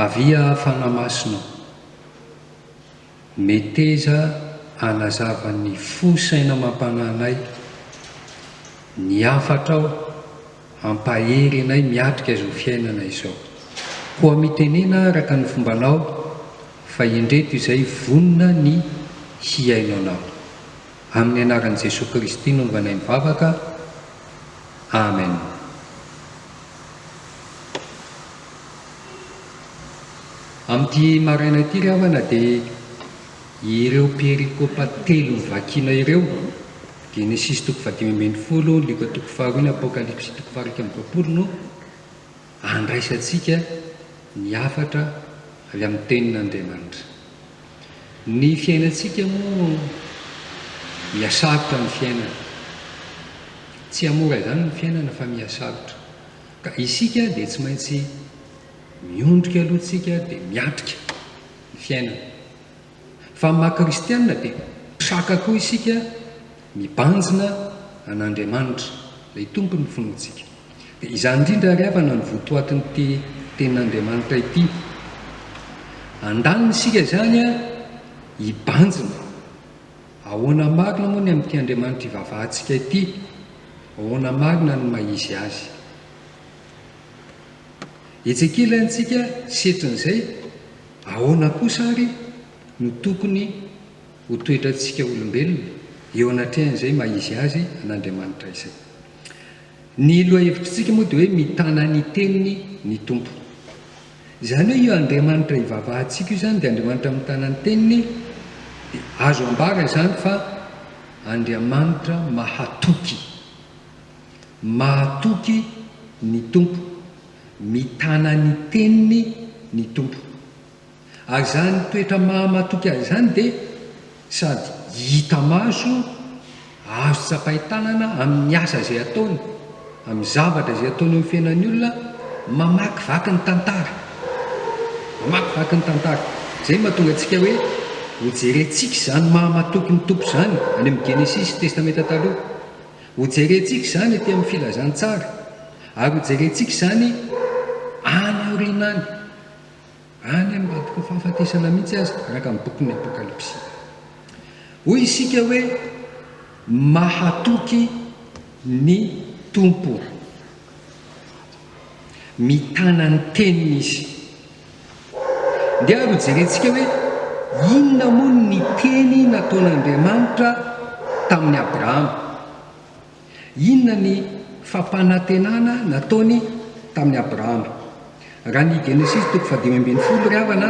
Avia Fanahy Masina ô! Meteza hanazava ny fo saina amam-panahinay, ny hafatrao hampahery anay miatrika izao fiainana izao. Koa mitenena araka ny fombanao fa indreto izay vonona ny hihaino anao. Amin'ny anaran'i Jesoa Kristy no novanay mivavaka. Amen. Amin'ity maraina ity ry havana dia ireo perikopa telo novakiana ireo, Genesisy toko fahadimy ambin'ny folo, Lioka toko faharoa ny Apokalypsy toko faha iraika amby roapolo no andraisantsika ny hafatra avy amin'ny Tenin'Andriamanitra. Ny fiainantsika moa mihasarotra ny fiainana. Tsy hamora izany ny fiainana fa mihasarotra. Ka isika dia tsy maintsy miondrika aloha tsika dia miatrika ny fiainana. Fa amin'ny maha kristianina dia traka koa isika Mibanjina an'Andriamanitra, ilay Tompon'ny finoantsika. Dia izany indrindra àry havana no votoatin'ity Tenin'Andriamanitra ity. Andaniny isika izany hibanjina. Ahoana marina moa ny amin'ity Andriamanitra ivavahantsika ity? Ahoana marina ny maha-izy azy? Etsy ankilantsika setrin'izay, ahoana kosa àry no tokony ho toetrantsika olombelona eo anatrehan'izay maha izy azy an'Andriamanitra izay. Ny lohahevitritsika moa dia hoe mitana ny teniny ny Tompo. Izany hoe io Andriamanitra ivavahantsika io izany dia Andriamanitra mitana ny teniny, dia azo ambara izany fa Andriamanitra mahatoky. Mahatoky ny Tompo, mitana ny teniny ny Tompo. Ary izany toetra mahamatoky azy izany dia sady hita maso, azo tsapain-tanana amin'ny asa izay ataony, amin'ny zavatra izay ataony eo amin'ny fiainan'ny olona, mamakivaky ny tantara. Mamakivaky ny tantara. Izay no mahatonga antsika hoe hojerentsika izany mahamatoky ny Tompo izany any amin'ny Genesisy, Testamenta Taloha. Hojerentsika izany ety amin'ny Filazantsara, ary hojerentsika izany any aoriana any. Any amin'ny raboka fahafatesana mihitsy aza, araka ny bokin'ny Apokalypsy. Hoy isika hoe, Mahatoky ny Tompo. Mitana ny teniny izy. Dia ary hojerentsika hoe inona moa ny teny nataon'Andriamanitra tamin'i Abrahama. Inona ny fampanantenana nataony tamin'i Abrahama? Raha ny Genesisy toko fahadimy ambin'ny folo ry havana,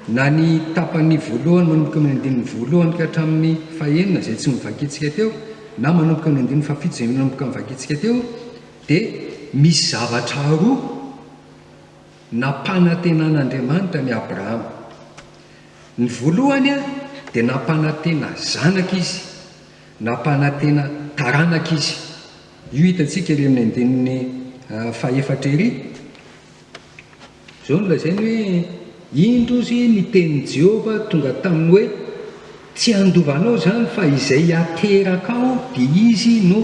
na ny tapany voalohany manomboka amin'ny andininy voalohany ka hatramin'ny fahenina izay tsy novakintsika teo, na manomboka amin'ny andininy fahafito izay nanomboka novakintsika teo, dia misy zavatra roa nampanantenan'Andriamanitra an'i Abrahama. Ny voalohany dia nampanantena zanaka Izy, Nampanantena taranaka izy. Io hitantsika ery amin'ny andininy fahefatra ery. Izao no lazainy hoe, Indro ozy ny tenin'i Jehovah tonga taminy hoe, Tsy handova anao izany, fa izay hateraka ao, dia izy no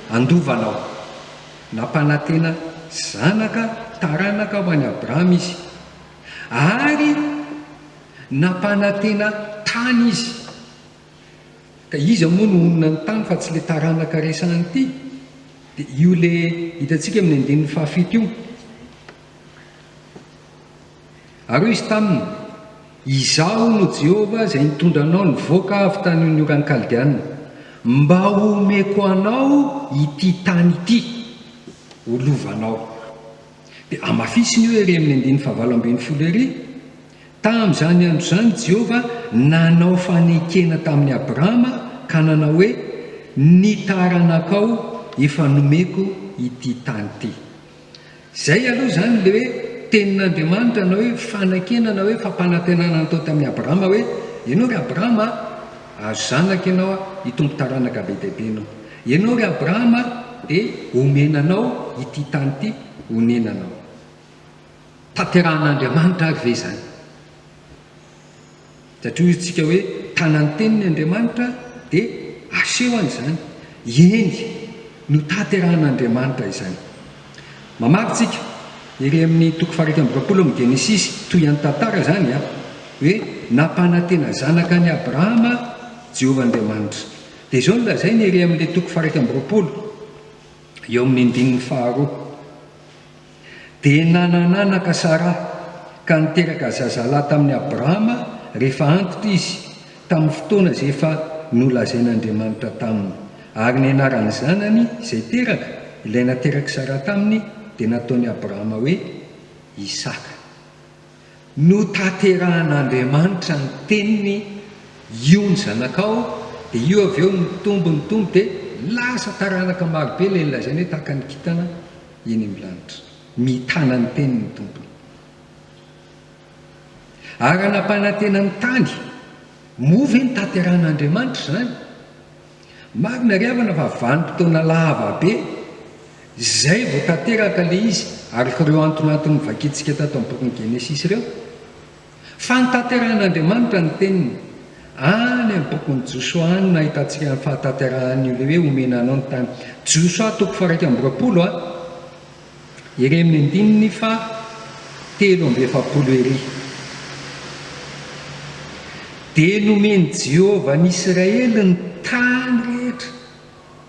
handova anao. Nampanantena zanaka, taranaka ho an'i Abrahama izy. Ary nampanantena tany izy. Ka iza moa no honina ny tany fa tsy le taranaka resahana ity? De io le hitantsika amin'ny andininy fahafito io. Ary hoy izy taminy, Izaho no Jehovah izay nitondra anao nivoaka avy tany amin'ny oran'ny Kaldeanina, mba homeko anao ity tany ity ho lovanao. Dia hamafisiny io ery amin'ny andininy fahavalo ambin'ny folo ery, Tamin'izany andro izany, Jehovah nanao fanekena tamin'i Abrahama ka nanao hoe, Ny taranakao efa nomeko ity tany ity. Izay aloha izany ilay hoe tenin'Andriamanitra na hoe fanekena na hoe fampanantenana natao tamin'i Abrahama hoe, Ianao ry Abrahama a, hahazo zanaka ianao a, hitombo taranaka be dia be ianao. Ianao ry Abrahama dia homena anao ity tany ity honenanao. Tanterahan'Andriamanitra ary ve izany? Satria hoy isika hoe, Tana ny teniny Andriamanitra, dia asehony izany. Eny, notanterahan'Andriamanitra izany. Mamaky isika, ery amin'ny toko faha-iraika amby roapolo amin'ny Genesisy, toy an'ny tantara izany an, hoe nampanantena zanaka an'i Abrahama Jehovah Andriamanitra. Dia izao no lazainy ery amin'ilay toko faha-iraika amby roapolo, eo amin'ny andininy faharoa. Dia nanananaka Sara, ka niteraka zazalahy tamin'i Abrahama rehefa antitra izy, tamin'ny fotoana izay efa nolazain'Andriamanitra taminy. Ary ny anaran'ny zanany izay teraka, ilay naterak'i Sara taminy, dia nataon'i Abrahama hoe Isaka. Notanterahan'Andriamanitra ny teniny io ny zanakao dia io avy eo nitombo nitombo dia lasa taranaka maro be ilay lazaina hoe tahaka ny kintana eny amin'ny lanitra mitana ny teniny ny tompony ary nampanantena ny tany moa ve notanterahan'Andriamanitra izany Marina ry havana fa vanim-potoana lava be zay vao tanteraka le izy ary ireo antony antony novakintsika tato amin'ny bokin'ny Genesisy ireo. Fa notanterahan'Andriamanitra ny teniny any amin'ny bokin'i Josoa any no ahitantsika ny fahatanterahan'io le hoe omena anao ny tany. Josoa toko faha iraika amby roapolo a. Ery amin'ny andininy faha telo amby efapolo ery, dia nomen'i Jehovah an'Israely ny tany rehetra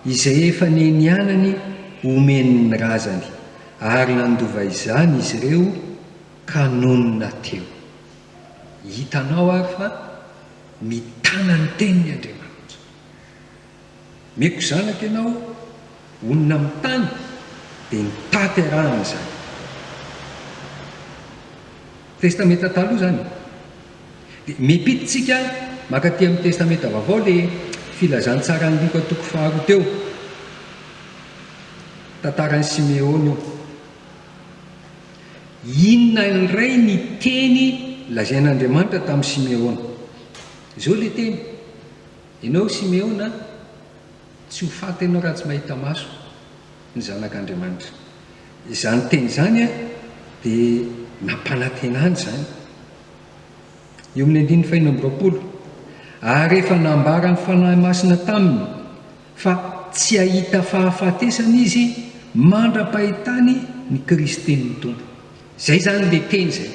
izay efa nianianany homeny ny razany, ary nandova izany izy ireo ka nonina teo. Hitanao àry fa mitana ny teniny Andriamanitra. Meko zanaka ianao honina amin'ny tany dia ny taty arahana izany. Testamenta taloha izany e. Dia mipitintsika makaty amin'ny testamenta vaovao ilay filazantsaran'i Lioka toko faharoa teo. Tantaran'i Simeona io. Inona indray ny teny lazain'Andriamanitra tamin'i Simeona? Izao ilay teny. Enao Simeona tsy ho faty enao raha tsy mahita maso ny zanak' Andriamanitra. Izany teny izany dia nampanantena an' izany. Eo amin' ny andininy fahenina amby roapolo, Ary efa nambara ny Fanahy Masina taminy fa tsy hahita fahafatesana izy mandra-pahitany ny Kristin' ny Tompo. Izay izany ilay teny izay.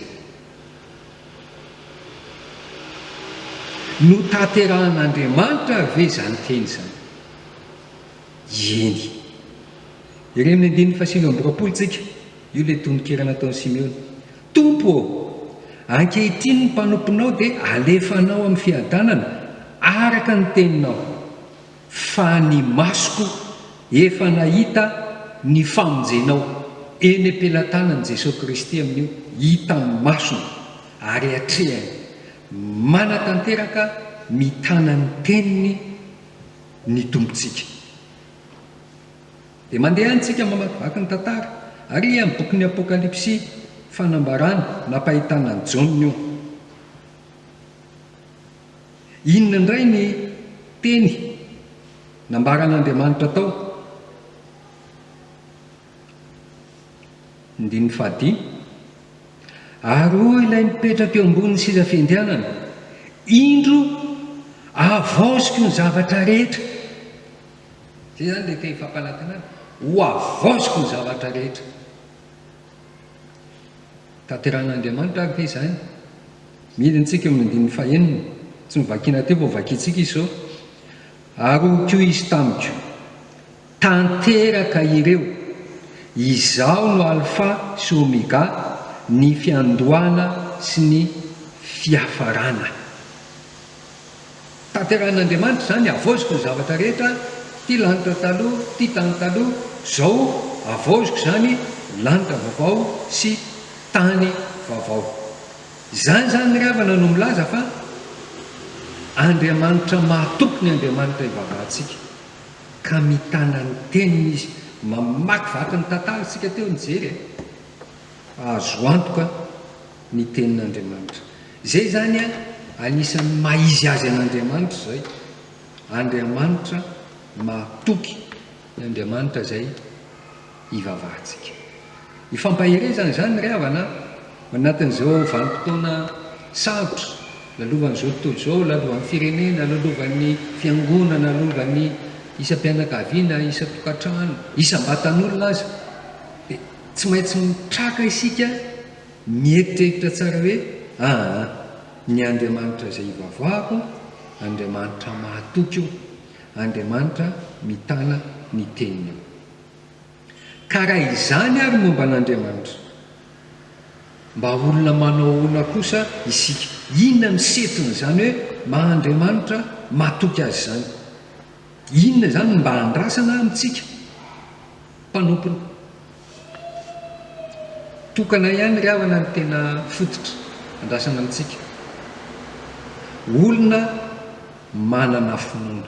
Notanterahan'Andriamanitra ve izany teny izany? Eny. Jereo amin'ny andininy fahasivy amby roapolo tsika, io ilay tononkira nataon'i Simeona. Tompo ô, ankehitriny ny mpanomponao dia alefanao amin'ny fiadanana, araka ny teninao. Fa ny masoko efa nahita ny famonjenao. Eny am-pelatanan'i Jesoa Kristy amin'io, hitan'ny masony ary atrehany. Manatanteraka mitana ny Teniny ny Tompontsika. Dia mandeha any tsika mamakivaky ny tantara. Ary amin'ny bokin'ny Apokalypsy, fanambarana nampahitana an'i Jaona io. Inona indray ny teny nambaran'Andriamanitra tao Andininy fahadimy, Ary hoy ilay mipetraka eo ambonin'ny seza fiandrianana, Indro, avaoziko ny zavatra rehetra. Izay izany ilay teny fampanantenana, ho avaoziko ny zavatra rehetra. Tanterahin'Andriamanitra ary ve izany? Midina isika eo amin'ny andininy fahenina, tsy novakina teo vao vakintsika izy izao, Ary hoy koa izy tamiko, Tanteraka ireo, Izaho no Alfa sy Omega, ny fiandohana sy ny fiafarana. Tanterahin'Andriamanitra izany, havaoziko ny zavatra rehetra, ity lanitra taloha, ity tany taloha, izao havaoziko izany lanitra vaovao sy tany vaovao. Izany izany ry havana no milaza fa Andriamanitra mahatoky ny Andriamanitra ivavahantsika, ka mitana ny teniny izy, mamakivaky ny tantara isika teo nijery e, azo antoka ny tenin'Andriamanitra. Izay izany an, anisan'ny maha izy azy an'Andriamanitra izay, Andriamanitra mahatoky ny Andriamanitra izay ivavahantsika. Ifampaherezana izany ry havana an, anatin'izao vanim-potoana sarotra lalovan'izao tontolo izao, lalovan'ny firenena, lalovan'ny fiangonana, lalovan'ny isam-pianakaviana, isan-tokantrano, isam-batan'olona aza, dia tsy maintsy mitraka isika, Mieritreritra tsara hoe, Aa, ny Andriamanitra izay ivavoahako, Andriamanitra mahatoky io, Andriamanitra mitana ny Teniny io. Ka raha izany àry momba an'Andriamanitra, mba olona manao ahoana kosa isika? Inona no setrin'izany hoe maha-Andriamanitra mahatoky Azy izany? Inona izany no mba andrasana amintsika? mpanompony tokana ihany ry havana no tena fototra andrasana amintsika olona manana finoana.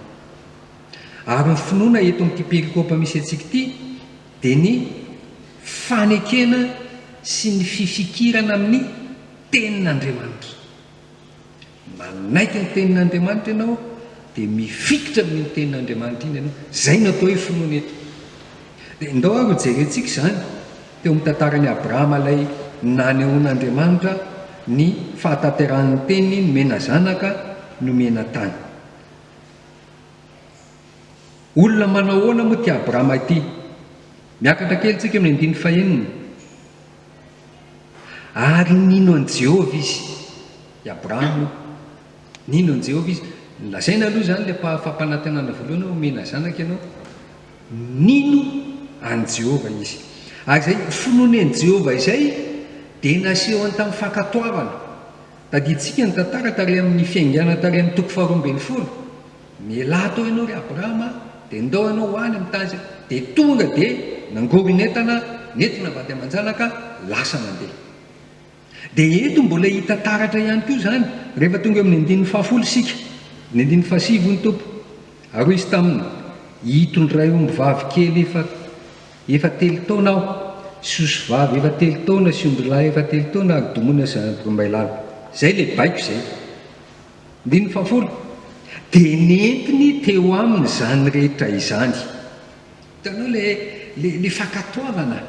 Ary ny finoana eto amin'ity perikopa misy antsika ity dia ny fanekena sy ny fifikirana amin'ny tenin'Andriamanitra. Manaiky ny tenin'Andriamanitra ianao dia mifikitra amin'iny tenin'Andriamanitra iny ianao. Izay no atao hoe finoana eto. Dia ndao ary ho jerentsika izany teo amin'ny tantaran'i Abrahama ilay nanehoan'Andriamanitra ny fahatanterahan'ny teniny nomena zanaka nomena tany. Olona manao ahoana moa ity Abrahama ity? Miakatra kely tsika amin'ny andininy fahenina. Ary nino an'i Jehovah izy. I Abrahama, nino an'i Jehovah izy. Nolazaina aloha izany ilay pa- fampanantenana voalohany hoe homena zanaka ianao. Nino an'i Jehovah izy. Ary izay finoany an'i Jehovah izay dia nasehony tamin'ny fankatoavana. Tadidintsika ny tantara tary amin'ny fiaingana tary amin'ny toko faharoa ambin'ny folo. Mialà tao ianao ry Abrahama a! Dia ndao ianao ho any amin'ny tany izay. Dia tonga dia nangoron'entana nentina vady aman-janaka lasa nandeha. Dia eto mbola hita taratra ihany koa izany rehefa tonga eo amin'ny andininy fahafolo isika. Ny andininy fahasivy hoy ny Tompo, Ary hoy Izy taminy, Hitondray ombivavy kely efa efa telo taona Aho, sy osivavy efa telo taona sy ondrilahy efa telo taona ary domoina sy ampirimbay lava. Izay ilay baiko izay. Andininy fahafolo, Dia nentiny teo aminy izany rehetra izany. Hitanao ilay ilay fankatoavana,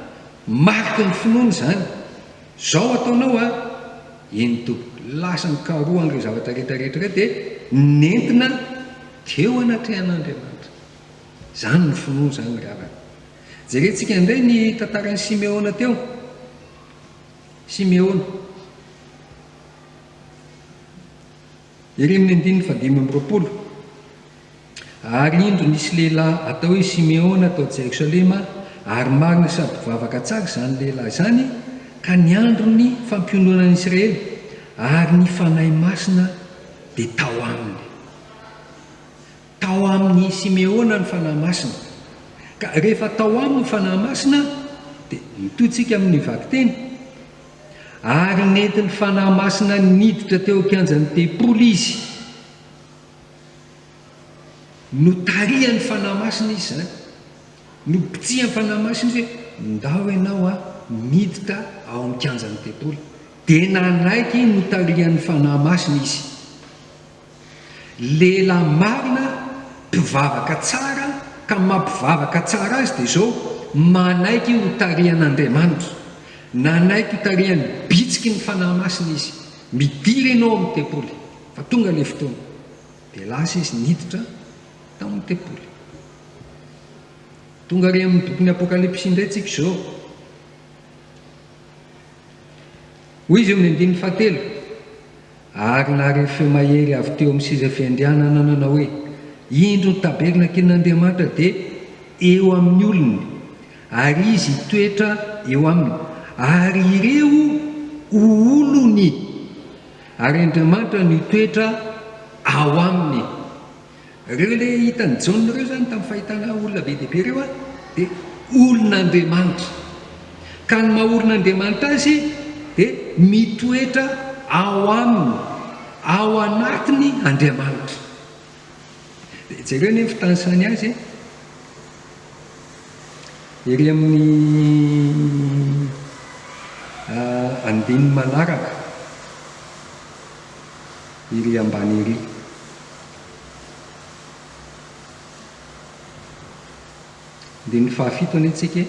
mariky ny finoana izany. Izao ataonao an, eny Tompoko, lasa nikaroha an'ireo zavatra rehetra rehetra ireo dia nentina teo anatrehan'Andriamanitra. Izany no finoana izany ry havana. Jerentsika indray ny tantaran'i Simeona teo. Simeona. Ery amin'ny andininy fahadimy amby roapolo, Ary indro nisy lehilahy atao hoe Simeona tao Jerosalema, ary marina sady mpivavaka tsara izany lehilahy izany, ka ny andron'ny fampionona an'i Israely, ary ny Fanahy Masina dia tao aminy. Tao amin'i Simeona ny Fanahy Masina. Ka rehefa tao aminy ny Fanahy Masina, dia mitohy tsika amin'ny vakiteny, ary nentin'ny Fanahy Masina niditra teo an-kianjan'ny tempoly izy. Notarihan'ny Fanahy Masina izy izany. Nobitsihan'ny Fanahy Masina izy hoe, ndao ianao an, miditra ao amin'ny kianjan'ny tempoly. Dia nanaiky notarihan'ny Fanahy Masina izy. Lehilahy marina, mpivavaka tsara, ka ny maha-mpivavaka tsara azy dia izao, manaiky ho tarihan'Andriamanitra. Nanaiky ho tarihan'ny bitsiky ny Fanahy Masina izy. Midira ianao amin'ny tempoly, fa tonga ilay fotoana. Dia lasa izy niditra tao amin'ny tempoly. Tonga ary amin'ny bokin'ny Apokalypsy indray tsika izao. Hoy izy eo amin'ny andininy fahatelo, Ary nahare feo mahery avy teo amin'ny seza fiandrianana nanao hoe, Indro ny tabernakelin'Andriamanitra dia eo amin'ny olony, ary izy hitoetra eo aminy, ary ireo ho olony, ary Andriamanitra no hitoetra ao aminy. Ireo ilay hitan'i Jaona ireo izany tamin'ny fahitana olona be dia be ireo dia olon'Andriamanitra. Ka ny maha olon'Andriamanitra azy dia mitoetra ao aminy, ao anatiny Andriamanitra. Dia jereo anie ny fitanisany azy e. Ery amin'ny uh, andininy manaraka, ery ambany ery. Andininy fahafito anie tsika e!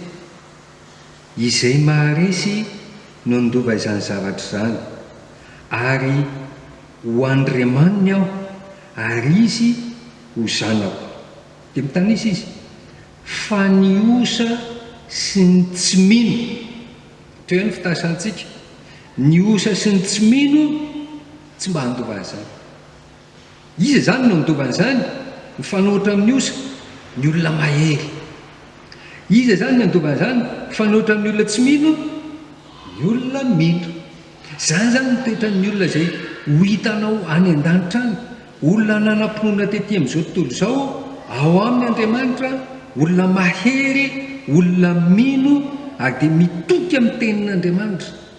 Izay maharesy no handova izany zavatra izany, ary ho Andriamaniny aho, ary izy ho zanako. Dia mitanisa izy, Fa ny osa sy ny tsy mino, hatreo ihany ny fitanisantsika, ny osa sy ny tsy mino tsy mba handova an'izany. Iza izany no handova an'izany? Mifanohitra amin'ny osa ny olona mahery. Iza izany no handova an'izany? Mifanohitra amin'ny olona tsy mino ny olona mino. Izany izany ny toetran'ny olona izay ho hitanao any an-danitra any. Olona nanam-pinoana tetỳ amin'izao tontolo izao ao aminy Andriamanitra, olona mahery, olona mino ary dia mitodika amin'ny Tenin'Andriamanitra.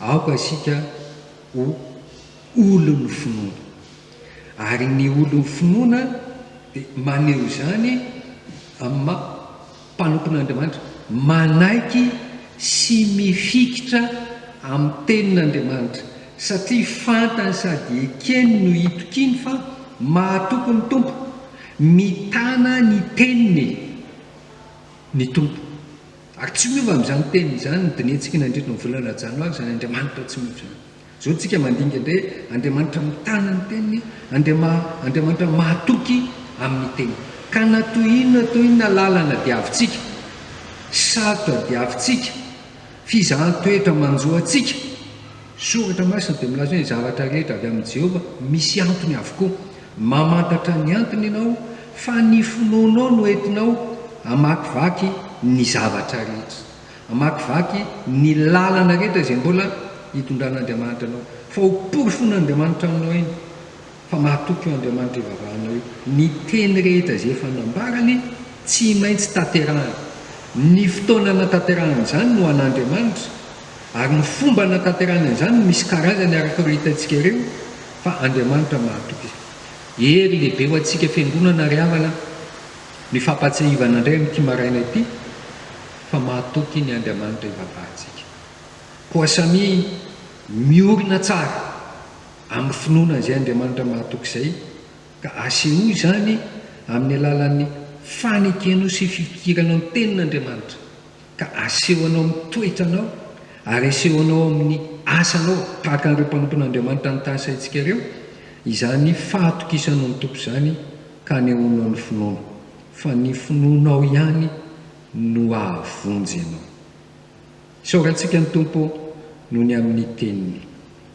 Aoka isika ho olon'ny finoana. Ary ny olon'ny finoana dia maneho izany amin'ny maha mpanompon' Andriamanitra, manaiky sy mifikitra amin'ny tenin' Andriamanitra, satria fantany sady ekeny no itokiany fa mahatoky ny Tompo, mitana ny teniny ny Tompo. Ary tsy miova amin'izany teny izany ny dinihintsika nandritra ny volana janoary izany Andriamanitra tsy miova izany. Izao tsika mandinika indray hoe Andriamanitra mitana ny teniny, Andriama, Andriamanitra mahatoky amin'ny teniny. Ka na toy inona na toy inona lalana diavintsika, sarotra diavintsika, fizahan-toetra manjo antsika, Soratra Masina dia milaza hoe, Ny zavatra rehetra avy amin'i Jehovah misy antony avokoa. Mamantatra ny antony ianao, fa ny finoanao no entinao hamakivaky ny zavatra rehetra, hamakivaky ny lalana rehetra izay mbola hitondran'Andriamanitra anao. Fa ho porofoin'Andriamanitra aminao iny Fa mahatoky io Andriamanitra ivavahanao io. Ny teny rehetra izay efa nambarany, tsy maintsy tanterahina. Ny fotoana hanatanterahana izany no an'Andriamanitra, ary ny fomba hanatanterahany an'izany no misy karazany araka ireo hitantsika ireo, fa Andriamanitra mahatoky izany. Hery lehibe ho antsika fiangonana ry havana ny fampahatsiahivana indray amin'ity maraina ity fa mahatoky ny Andriamanitra ivavahantsika. Koa samia miorina tsara. amin'ny finoana an'izay Andriamanitra mahatoky izay, ka asehoy izany amin'ny alalan'ny fanekenao sy fifikiranao ny Tenin'Andriamanitra, ka aseho anao amin'ny toetranao ary aseho anao amin'ny asanao, tahaka an'ireo mpanompon'Andriamanitra nitasaintsika ireo, izany fahatokisanao ny Tompo izany ka anehoanao ny finoanao, fa ny finoanao ihany no hahavonjy anao. Isaorantsika ny Tompo noho ny amin'ny Teniny.